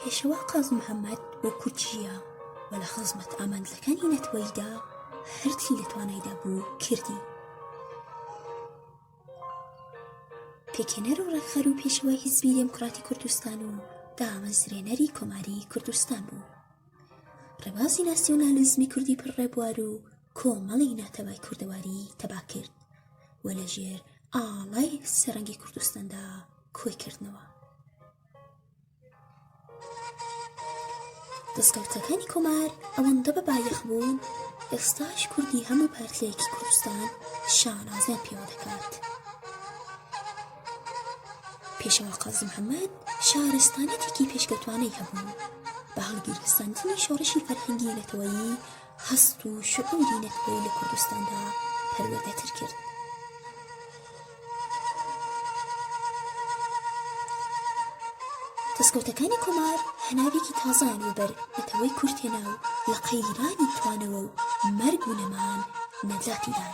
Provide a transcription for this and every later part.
پێشەوا قازی محەممەد بۆ کورد ژیە و لە خزمەت ئامانجەکانی نەتوەیدا هەرچی لە توانایدا بوو کردی پێکێنەر و ڕێکخەر و پێشەوای حیزبی دێموکراتی کوردستان و دامەزرێنەری کۆماری کوردستان بوو ڕێبازی ناسیۆنالیزمی کوردی پر ڕێبوار و کۆمەڵی ناتەبای کوردەواری تەبا کرد و لە ژێر ئاڵای سەرەنگی کوردستاندا کۆی کردنەوە دەستکەوتەکانی کۆمار ئەوەندە بە بایەخ بوون ئێستاش کوردی هەموو پارتلەیەکی کوردستان شانازیان پێوە دەکات پێشەوە قازی محەممەد شارستانەتێکی پێشکەوتوانەی هەبوو بە هەڵگیرستاندنی شۆڕشی فەرهەنگی نەتەوەیی هەست و شعوری نەتەوەیی لە کوردستاندا پەروەردەتر کرد. دەستکەوتەکانی کۆمار هەناوێکی تازان و بەر نەتەوەی کورتێنا و لە قەیرانی توانەوە و مەرگ و نەمان نەجاتیدان.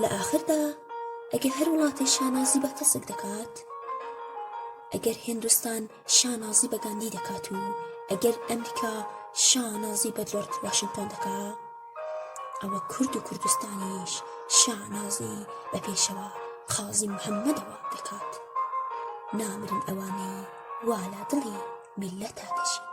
لە ئاخردا ئەگەر هەر وڵاتێ شانازی بە تەسک دەکات ئەگەر هندستان شانازی بە گاندی دەکات و ئەگەر ئەمریکا شانازی بە جۆرت واشنگتۆن دەکا ئەوە کورد و کوردستانیش شانازی بە پێشەوە قازی محەممەدەوە دەکات نامرن ئەوانەی والا دڵی میلەتا دەژین